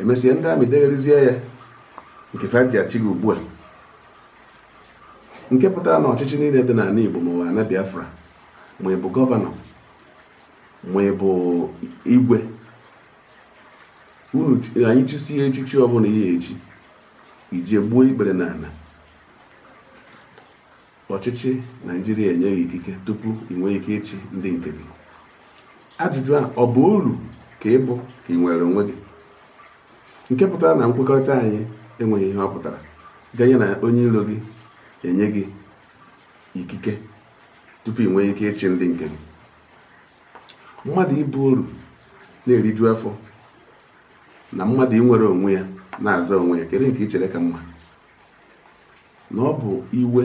emesie ndị amị degharịzie ya nke fa ji achị gị ugbu a nke pụtara na ọchịchị niine dị n'ana Igbo ma ọ bụ ana Biafra ma ị bụ gọvanọ ma ị bụ igwe unu anyị chụsie echichi ọbụla ị ye-echi i je gbuo ikpere n'ana ọchịchị naijiria enye gị ikike tupu ị nwee ike ịchị ndị nke gị ajụjụ a ọ bụ oru ka ị bụ ka ị nwere onwe gị nke pụtara na nkwekọrịta anyị enweghị ihe ọ pụtara ganye na onye ilo gị enye gị ikike tupu ị nwee ike ịchị ndị nke gị mmadụ ịbụ oru na-eriju afọ na mmadụ inwere onwe ya na-aza onwe ya kedu nke ị chere ka mma na ọ bụ iwe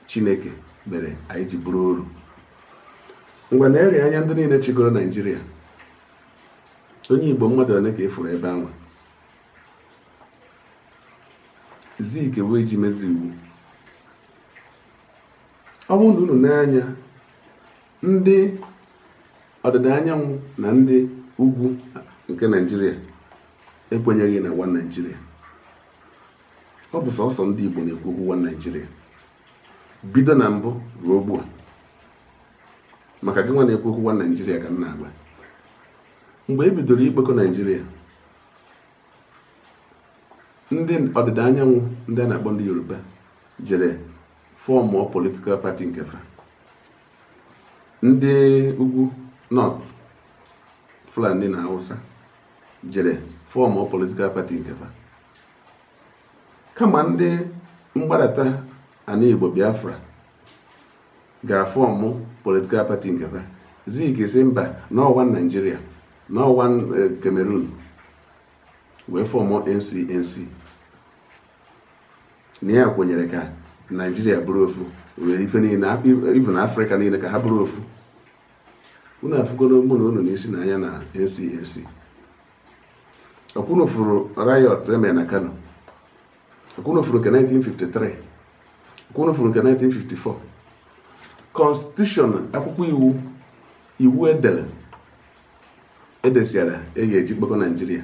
chineke mere anyị ji bụrụ oru ngwa neruo anya ndị niine chịgoro naijiria onye igbo mmadụ one ka ị fụrụ ebe anwa zik wee ji mezi iwu ọ bụrụ na unu enee anya ndị ọdịda anyanwụ na ndị ugwu nke naijiria ekwenyeghị na one naijiria ọ bụ sọsọ ndị igbo na-ekwu okwu one naijiria bido na mbụ ruo ugbu a maka gị nwa na-ekwu okwu one naijiria ka m na-agwa mgbe e bidoro ịkpọkọ naijiria ndị ọdịda anyanwụ ndị a na-akpọ ndị yoruba jere fọmụ political party nke fa ndị ugwu north fulani na hausa jere fọmụ political party nke fa kama ndị mgbadata ana igbo biafra ga-afọmụ political party nke fa zik sị mba na ọ one naijiria na ọ one eh, cameroon wee fọmụ ncnc na ya kwenyere ka naijiria bụrụ ofu were ife niile even afrịka niile ka ha bụrụ ofu unu afụgoro mụ na unu n'isi na anya na NCNC ọ kwa unu fụrụ riot e me na kano ọ kwa unu fụrụ nke 1953 ọ kwa unu fụrụ nke 1954 constitution akwụkwọ iwu iwu edere edesiara e ga-eji kpọkọ naijiria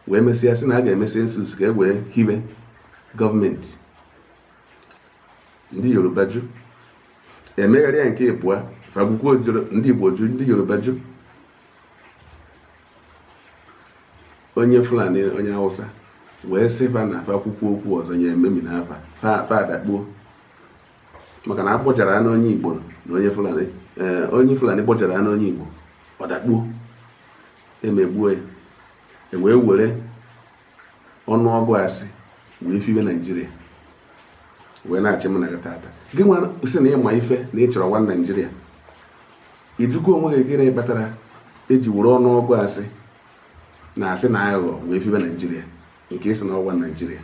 wee mesịa sị na a ga-eme census ka e wee hibe gọọmenti ndị yoruba jụ e megharịa nke ịbụa fa gwukwu ojoro ndị igbo jụ ndị yoruba jụ onye fulani onye hausa wee sị fa na fa kwukwu okwu ọzọ ya ememinaa fa fa adakpuo maka na agbọjara ya n'onye Igbo na onye Fulani eh, onye Fulani gbọjara ya n'onye Igbo ọ dakpuo emegbuo ya e wee were ọnụọgụ asị wee fibe naijiria wee na-achị m na gị tata gị nwa sị na ịma ife na ị chọrọ one naijiria ịjụgo onwe gị gịnị kpatara eji were ọnụọgụ asị na asị na aghụghọ wee fibe naijiria nke ị sị na ọ one naijiria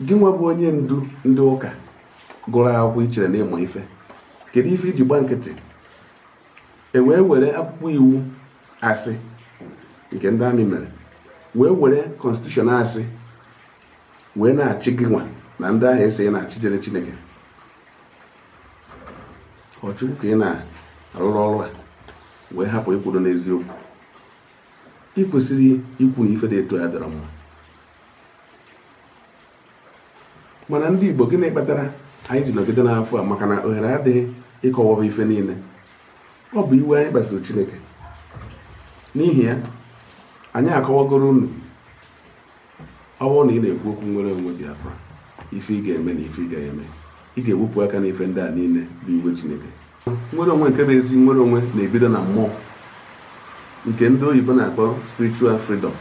gị nwa bụ onye ndu ndị ụka gụrụ akwụkwọ ichere na ịma ife kedu ife iji gba nkịtị e wee were akwụkwọ iwu asị nke ndị army mere wee were constitution asị wee na-achị gị nwa na ndị ahụ ị sị na-achịjere Chineke ọ Chukwu ka ị na-arụrụ ọrụ a wee hapụ ịkwụdo n'eziokwu ị kwesịrị ikwu na ife dị etu a adịrọ mma mana ndị Igbo gịnị kpatara anyị ji nọgide n'afọ a maka na ohere adịghị ịkọwaba ife niile ọ bụ iwe anyị kpasuru Chineke n'ihi ya anyị akọwagoro unu ọ bụrụ na ị na-ekwu okwu nnwere onwe Biafra ife ị ga-eme na ife ị ga-eme ị ga-ewepụ aka n'ife ndị a niile bụ iwe Chineke nnwere onwe nke bụ ezi nnwere onwe na-ebido na mmụọ nke ndị oyibo na-akpọ spiritual freedom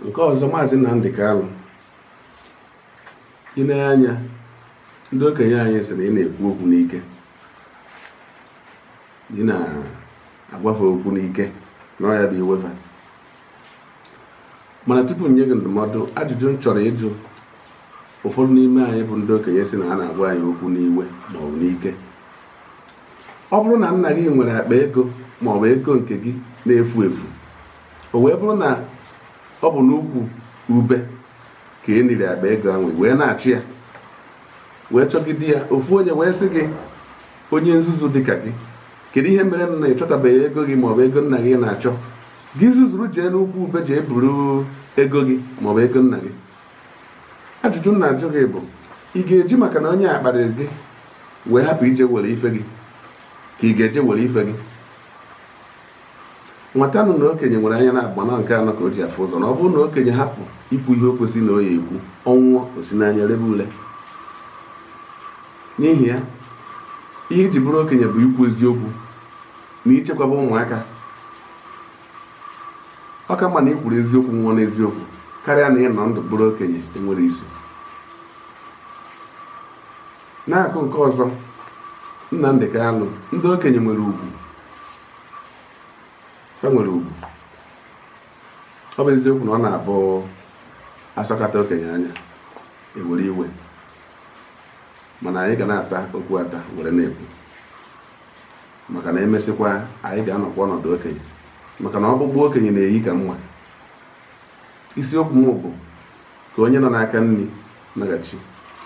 nke ọzọ maazị Nnamdi Kanu ile anya ndị okenye anyị sị na ị na-ekwu okwu n'ike ị na-agwa fa okwu n'ike na ọ ya bụ iwe fa mana tupu m nye gị ndụmọdụ ajụjụ m chọrọ ịjụ ụfọdụ n'ime anyị bụ ndị okenye sị na a na-agwa anyị okwu n'iwe ma ọ bụ n'ike ọ bụrụ na nna gị nwere akpa ego ma ọ bụ ego nke gị na-efu efu o wee bụrụ na ọ bụ n'ukwu ube ka e niri akpa ego ahụ wee na-achọ ya wee chọgide ya ofu onye wee sị gị onye nzuzu dịka gị kedu ihe mere na ị chọtabeghị ego gị maọbụ ego nna gị ị na-achọ gị zuzuru jee n'ukwu ube jee buru ego gị maọbụ ego nna gị ajụjụ m na-ajụ gị bụ ị ga-eji maka na onye a kparịrị gị wee hapụ ije were ife gị ka ị ga-eje were ife gị wọtanụ na okenye nwere anya na-agba na nke anọ ka o ji afụ ụzọ na ọ bụrụ na okenye hapụ ikwu ihe o kwesịrị na ọ ya-ekwu ọ nwụọ o si n'anya lebe ule n'ihi ya ihe iji bụrụ okenye bụ ikwu eziokwu na ichekwaba ụmụaka ọ ka mma na ikwuru eziokwu nwụọ n'eziokwu karịa na ịnọ ndụ bụrụ okenye enwerọ isi n'aka nke ọzọ Nnamdi Kanu ndị okenye nwere ugwu fa nwere ugwu ọ bụ eziokwu na ọ na-abụ asọkata okenye anya ewere iwe mana anyị ga na-ata okwu ata were na-ekwu maka na emesịkwa anyị ga-anọkwa ọnọdụ okenye maka na ọkpụkpụ okenye na-eyi ka mma isiokwu m bụ ka onye nọ n'aka nri naghachi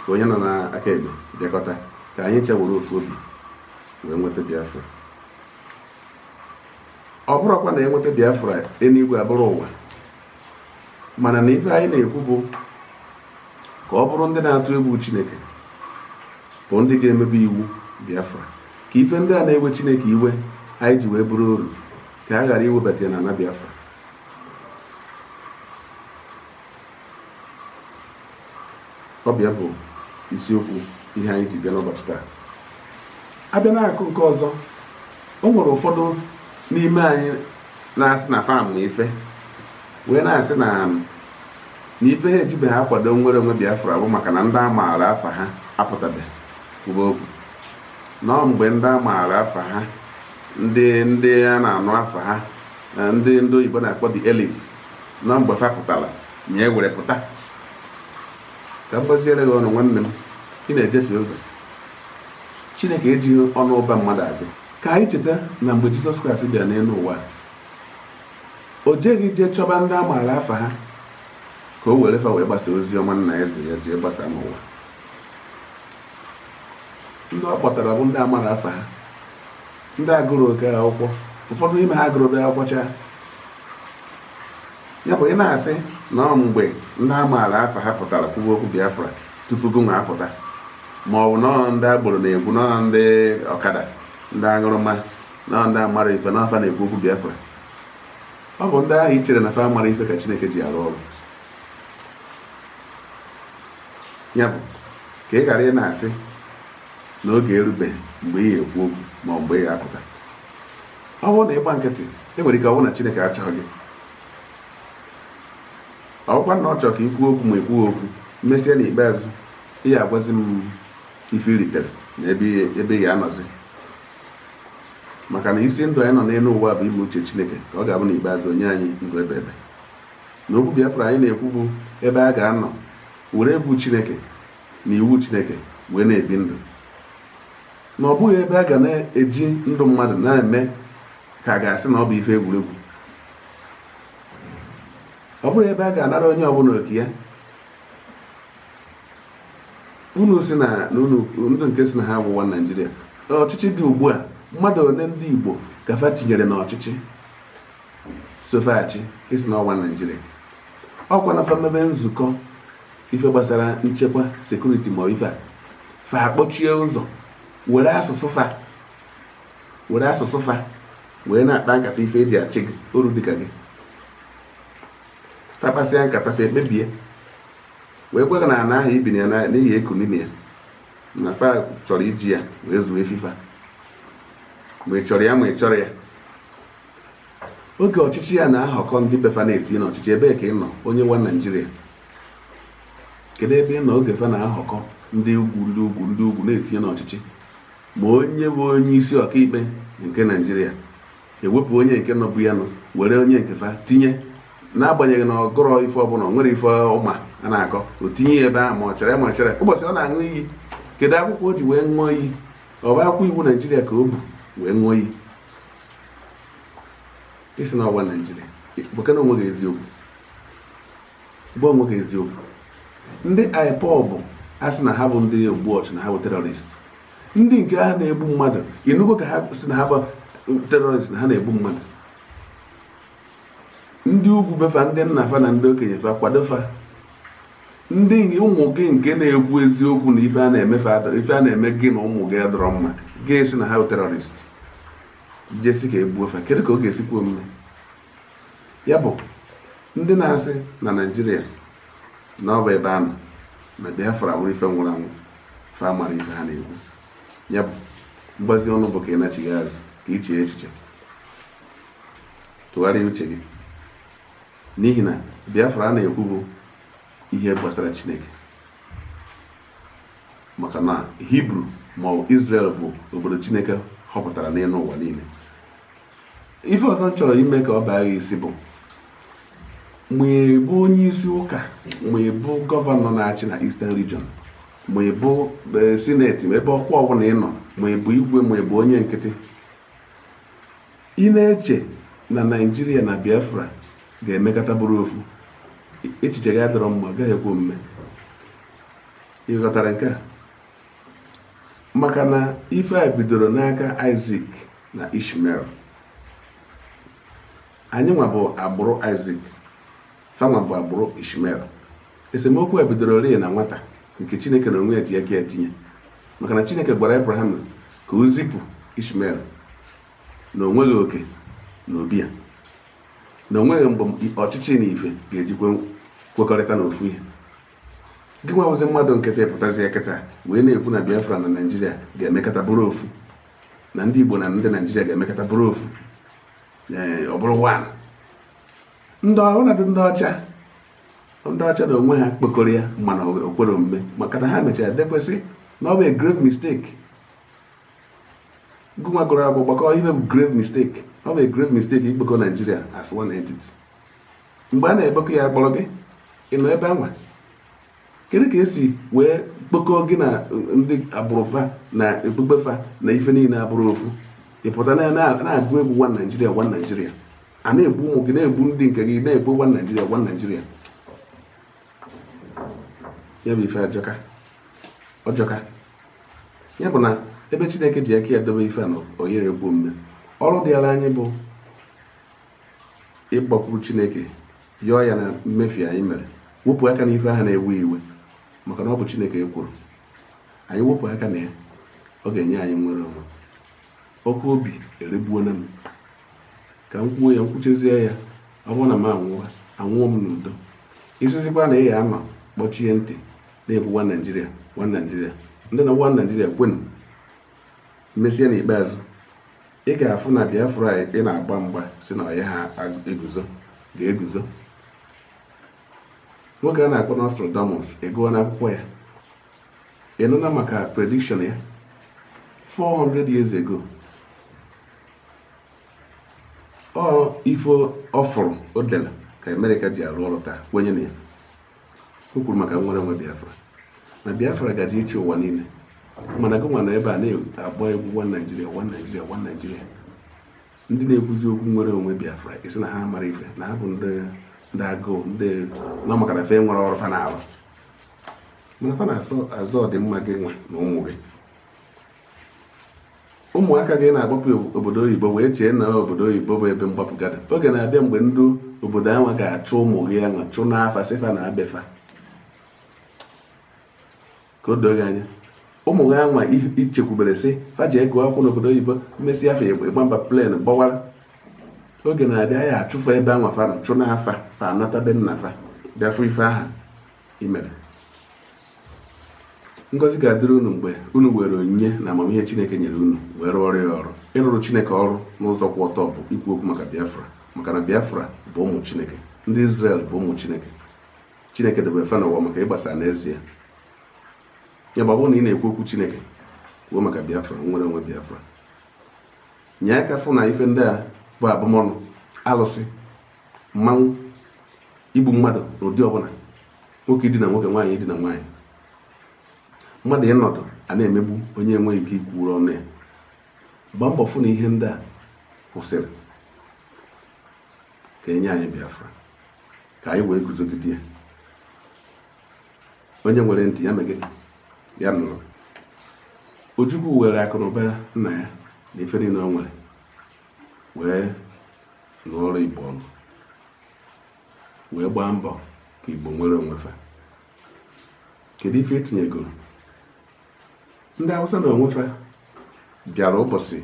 ka onye nọ n'aka ekpe bịakọta ka anyị ncha were ofu obi wee nweta biafra ọ bụrọkwa na enweta biafra eluigwe abụrụ ụwa mana na ife anyị na-ekwu bụ ka ọ bụrụ ndị na-atụ egwu chineke bụ ndị ga-emebe iwu biafra ka ife ndị a na-ewe chineke iwe anyị ji wee bụrụ oru ka a ghara iwebata ya na ana biafra ọ bụ ya bụ isiokwu ihe anyị ji bịa n'ụbọchị taa abịa n'aka nke ọzọ o nwere ụfọdụ n'ime anyị na-asị na fa ma ife wee na-asị na na ife ha ejibeghị akwado nnwere onwe Biafra bụ maka na ndị a maara afa ha apụtabeghị kwuba okwu na ọ mgbe ndị a maara afa ha ndị ndị a na-anụ afa ha na ndị ndị oyibo na-akpọ the elite na mgbe fa pụtara anyị ewere pụta ka m gbaziere gị ọnụ nwanne m ị na-ejefe ụzọ chineke ejighị ọnụ ụba mmadụ agụ ka anyị cheta na mgbe jizọs kraịst bịara n'elu ụwa o jeghị jee chọba ndị a maara afa ha ka o were fa wee gbasa ozi ọma ana eze ya jee gbasa n'ụwa ndị ọ kpọtara bụ ndị amarọ afa ha ndị agụrọ oke akwụkwọ ụfọdụ n'ime ha agụrọ akwụkwọ chaa ya bụ ị na-asị na ọ mgbe ndị a maara afa ha pụtara kwuwe okwu Biafra tupu gịnwa apụta ma ọ bụ na ọ ndị agboro na-ekwu na ọ ndị ọkada ndị aṅụrụma na ọ ndị amarọ ife na fa na-ekwu okwu Biafra ọ bụ ndị ahụ i chere na fa amarọ ife ka Chineke ji arụ ọrụ ya bụ ka ị ghara ị na-asị na oge erubeghị mgbe ị ga-ekwu okwu ma mgbe ị ga-apụta ọ bụrụ na ị gba nkịtị e nwere ike ọ bụrụ na Chineke achọghị gị ọ bụkwa na ọ chọrọ ka ị kwuo okwu ma ị kwughị okwu mesịa n'ikpeazụ ị ga-agwazi m ife i ritere na ebe ị ga-anọzi maka na isi ndụ anyị nọ n'elu ụwa bụ ime uche Chineke ka ọ ga-abụ n'ikpeazụ o nye anyị ndụ ebebe na okwu Biafra anyị na-ekwu bụ ebe a ga-anọ were egwu Chineke na iwu chineke wee na-ebi ndụ na ọ bụrọ ebe a ga na-eji ndụ mmadụ na-eme ka a ga-asị na ọ bụ ife egwuregwu ọ bụrọ ebe a ga-anara onye ọbụla oke ya unu sị na ndị nke sị na ha wụ one naijiria ọchịchị dị ugbu a mmadụ ole ndị igbo ka fa tinyere n'ọchịchị so fa achị ị sị na ọ one naijiria ọ kwa na fa mebe nzukọ ife gbasara nchekwa security ma ife a fa akpọchie ụzọ were asụsụ fa were asụsụ fa wee na-akpa nkata ife e ji achị gị oru dịka gị fa kpasịa nkata fa ekpebie wee gwa gị na ana ahụ i biri ya n'ihi eku n'ime ya na fa chọrọ iji ya wee zụọ efi fa ma ị chọrọ ya ma ị chọrọ ya oge ọchịchị ya na-ahọkọ ndị be fa na-etinye n'ọchịchị ebee ka ị nọ onye one naijiria kedu ebe ị nọ oge fa na-ahọkọ ndị ugwu ndị ugwu ndị ugwu na-etinye n'ọchịchị ma onye bụ onye isi ọkaikpe nke naijiria ewepụ onye nke nọbụ ya nọ were onye nke fa tinye n'agbanyeghị na ọ gụrọ ife ọbụla nwerọ ife ọ ma a na-akọ o tinye ya ebe ahụ ma ọ chere ma ọ chere ụbọchị ọ na-aṅụ iyi kedu akwụkwọ o ji wee ṅụọ iyi ọ bụ akwụkwọ iwu naijiria ka o bu wee ṅụọ iyi ị sị na ọ bụ one naijiria gwakene onwe gị eziokwu gwa onwe gị eziokwu ndị ipob a sị na ha bụ ndị ogbu ọchụ na ha bụ terrorist ndị nke ha na-egbu mmadụ ị nụgo ka ha sị na ha bụ terrorist na ha na-egbu mmadụ ndị ugwu be fa ndị nna fa na ndị okenye fa kwado fa ndị ụmụ gị nke na-ekwu eziokwu na ife a na-eme ife a na-eme gị na ụmụ gị adịrọ mma gị sị na ha bụ terrorist jee sị ka e gbuo fa kedu ka ọ ga-esi kwe omume ya bụ ndị na-asị na naijiria na ọ bụ ebe a nọ na biafra wụrụ ife nwụrụ anwụ fa amarọ ife ha na-ekwu ya bụ mgbazi ọnụ bụ ka ị nachighaa azụ ka i chee echiche tụgharịa uche gị n'ihi na Biafra a na-ekwu bụ ihe gbasara Chineke maka na Hibru ma ọ Israel bụ obodo Chineke họpụtara n'elu ụwa niile ife ọzọ m chọrọ ime ka ọ baa gị isi bụ ma ị bụ onye isi ụka ma ị bụ gọvanọ na-achị na Eastern Region ma ị bụ e, sineti ma ebe ọkwa ọbụla ị nọ ma ị bụ igwe ma ị bụ onye nkịtị ị na-eche na naijiria na biafra ga-emekọta bụrụ ofu echiche gị adịrọ mma gaghị ekwe omume ị ghọtara nke a maka na ife a bidoro n'aka isaac na ishmael anyị nwa bụ agbụrụ isaac fanwa bụ agbụrụ ishmael esemokwu a bidoro eri na nwata nke chineke na onwe ya ji aka etinye maka na chineke gwara abraham ka o zipụ ishmael na onweghị oke na obi ya na onweghị mgbe ọchịchị na ife ga-ejikwa kwekọrịta n'ofu ihe gị nwa wụzi mmadụ nkịtị pụtazia kịta wee na-ekwu na biafra na naijiria ga-emekọta bụrụ ofu na ndị igbo na ndị naijiria ga-emekọta bụrụ ofu ọ bụrụ one ndị ọnọdụ ndị ọcha ndị ọcha na onwe ha kpokọrọ ya mana o kwerọ omume maka na ha mechara dekwasị na ọ bụ a grave mistake gụnwa gụrụ akwụkwọ gbakọ ihe bụ grave mistake ọ bụ a grave mistake ikpokọ Nigeria as one entity mgbe a na-ekpokọ ya a kpọrọ gị ị nọ ebe anwa kedu ka esi wee kpokọ gị na ndị agbụrụ fa na okpukpe fa na ife niile abụrọ ofu ị pụta na-agụ egwu one Naijiria one Naijiria a na-egbu ụmụ gị na-egbu ndị nke gị na-ekwu one naijiria one naijiria ya bụ ife ajọka ọ jọka ya bụ na ebe chineke ji aka ya dobe ife na ọ yarọ ekwe omume ọrụ dịara anyị bụ ịgbakwuru chineke yọọ ya na mmefie anyị mere wepụ aka n'ife ahụ na-ewe iwe maka na ọ bụ chineke kwuru anyị wepụ aka na ya ọ ga-enye anyị nwere onwe ọkụ obi eregbuona m ka m kwuo ya m kwuchazie ya ọ bụrụ na m anwụọ anwụọ m n'udo ị sịzikwa na ị ya-anọ kpọchie ntị na-ekwu one naijiria one naijiria ndị na one naijiria kwenu mesịa n'ikpeazụ ị ga-afụ na biafra ị na-agba mgba sị na ọ yaha eguzo ga-eguzo nwoke a na-akpọ Nostradamus ị gụọna akwụkwọ ya ị nụna maka prediction ya 400 years ago ọ ife ọ fụrụ o dere ka amerịka ji arụ ọrụ taa kwenye na ya o kwuru maka nwere onwe biafra na biafra gaje ịchị ụwa niile mana gị nwa nọ ebe a na-agba egwu one naijiria one naijiria one naijiria ndị na-ekwuzi okwu nwere onwe biafra ị sị na ha amarọ ife na ha bụ ndị agụụ ndị nọ maka na fa enwerọ ọrụ fa na-arụ mana fa na-azọ ọdịmma gị nwa na ụmụ gị ụmụaka gị na-agbapụ obodo oyibo wee chee na obodo oyibo bụ ebe mgbapụ ga-adị oge na-abịa mgbe ndị obodo anwa ga-achụ ụmụ gị anwa chụnaa fa sị fa naa be fa ka o doo gị anya ụmụ gị anwa i chekwubere sị fa ejego akwụkwọ n'obodo oyibo emesịa ọ fọ ịgba mba plane gbawara oge na-abịa a ya-achụ fa ebe anwa fa chụnaa fa fa anata be nna fa bịa fụ ife aha i mere ngọzi ga-adịrị unu mgbe unu were onyinye na amamihe chineke nyere unu wee rụọrọ ya ọrụ ịrụrụ chineke ọrụ n'ụzọ kwụ ọtọ bụ ikwu okwu maka biafra maka na biafra bụ ụmụ chineke ndị Izrel bụ ụmụ chineke chineke debere fa n'ụwa maka ịgbasa n'ezie ya bụ ọ bụrụ na ị na-ekwu okwu chineke kwuo maka biafra nnwere onwe biafra nye aka fụ na ife ndị a bụ abụmọnụ alụsị mmanwụ igbu mmadụ n'ụdị ọbụla nwoke idina nwoke nwaanyị idina nwaanyị mmadụ ịnọdụ a na-emegbu onye enweghị ike ikwuru ọnụ ya gbaa mbọ fụ na ihe ndị a kwụsịrị ka e nye anyị Biafra ka anyị wee guzogide ya onye nwere ntị ya mee gịnị ya nụrụ Ojukwu were akụnụba nna ya na ife niile o nwere wee nụọrọ Igbo ọgụ wee gbaa mbọ ka Igbo nwere onwe fa kedu ife i tinyegoro ndị Hausa n'onwe fa bịara ụbọchị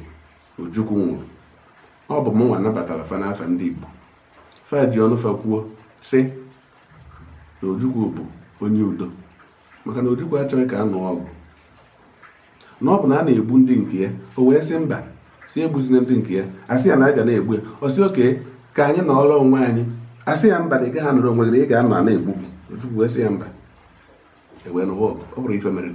Ojukwu nwụrụ ọ bụ mụnwa nabatara fa n'afa ndị Igbo fa ji ọnụ fa kwuo sị na Ojukwu bụ onye udo maka na Ojukwu achọghị ka a nụọ ọgụ na ọ bụ na a na-egbu ndị nke ya o wee sị mba sị egbuzina ndị nke ya a sị ya na a ga na-egbu ya ọ sị okay ka anyị nọọrọ onwe anyị a sị ya mba na ị gaghị anọrọ onwe gị na ị ga-anọ a na-egbu gị Ojukwu wee sị ya mba e wee nụwa ọgụ ọ bụrụ ife mere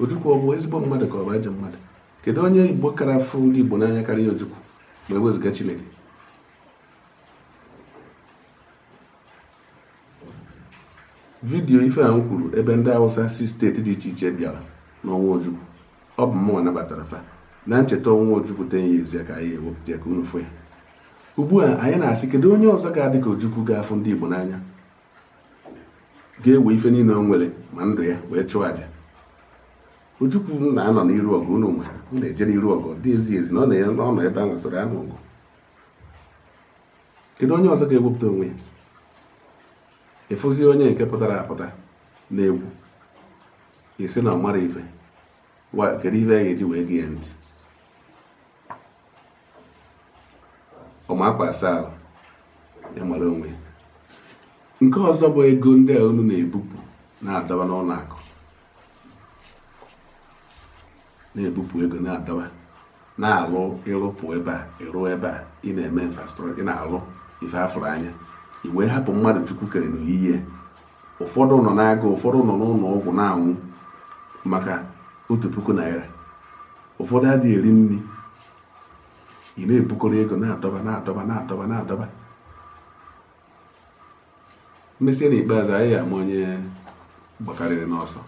Ojukwu ọ bụ ezigbo mmadụ ka ọ bụ ajọ mmadụ kedu onye Igbo kara fụ ndị Igbo n'anya karịa Ojukwu ma e wezuga Chineke vidiyo ife a m kwuru ebe ndị awụsa si steeti dị iche iche bịara n'ọnwụ ojukwu ọ bụ mụnwa nabatara fa na ncheta ọnwụ ojukwu ten years ya ka anyị wepụta ya ka unu fụ ya ugbu a anyị na-asị kedu onye ọzọ ga-adị ka ojukwu ga-afụ ndị igbo n'anya ga-ewe ife niile o nwere ma ndụ ya wee chụọ aja ojukwu na-anọ n'iru ọgụ unu ma na-eje n'iru ọgụ dị ezi ezi na ọ nọ ebe a nwesịrị anụ ọgụ kedu onye ọzọ ga-ewepụta onwe ya ị fụzie onye nke pụtara apụta na-ekwu sị na ọ mara ife kedu ife a ga-eji wee gee ya ntị ọma akwa asa ahụ ya mara onwe ya nke ọzọ bụ ego ndị a unu na-ebupụ na-adọba n'ụlọ akụ na-ebupụ ego na-adọba na-alụ ị rụpụ ebe a ị rụọ ebe a ị na-eme infrastructure ị na-alụ ife a fụrụ anya i wee hapụ mmadụ chukwu kere n'oyiyi ya ụfọdụ nọ n'agụụ ụfọdụ nọ n'ụlọ ọgwụ na-anwụ maka otu puku naira ụfọdụ adịghị eri nri ị na-ebukọrọ ego na-adọba na-adọba na-adọba na-adọba E mesie n'ikpeazụ anyị ama onye gbakarịrị n'ọsọ.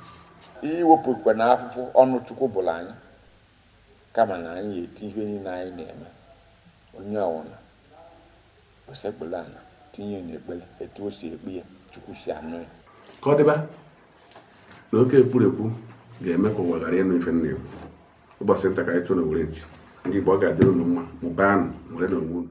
I wepụkwa na afụfụ ọnụ Chukwu bụrụ anyị kama na anyị eti ihe niile anyị na-eme onye ọ wụna o sekpula ala tinye n'ekpere etu o si ekpe ya Chukwu si anụ ya ka ọ dịba na oke ekwurekwu ga-eme ka ụwa ghara ịnụ ife m na-ekwu ụbọchị nta ka anyị chụọ n'owere nchi ndị Igbo ọ ga-adịrị unu mma mụbaanụ nwerenụ onwe unu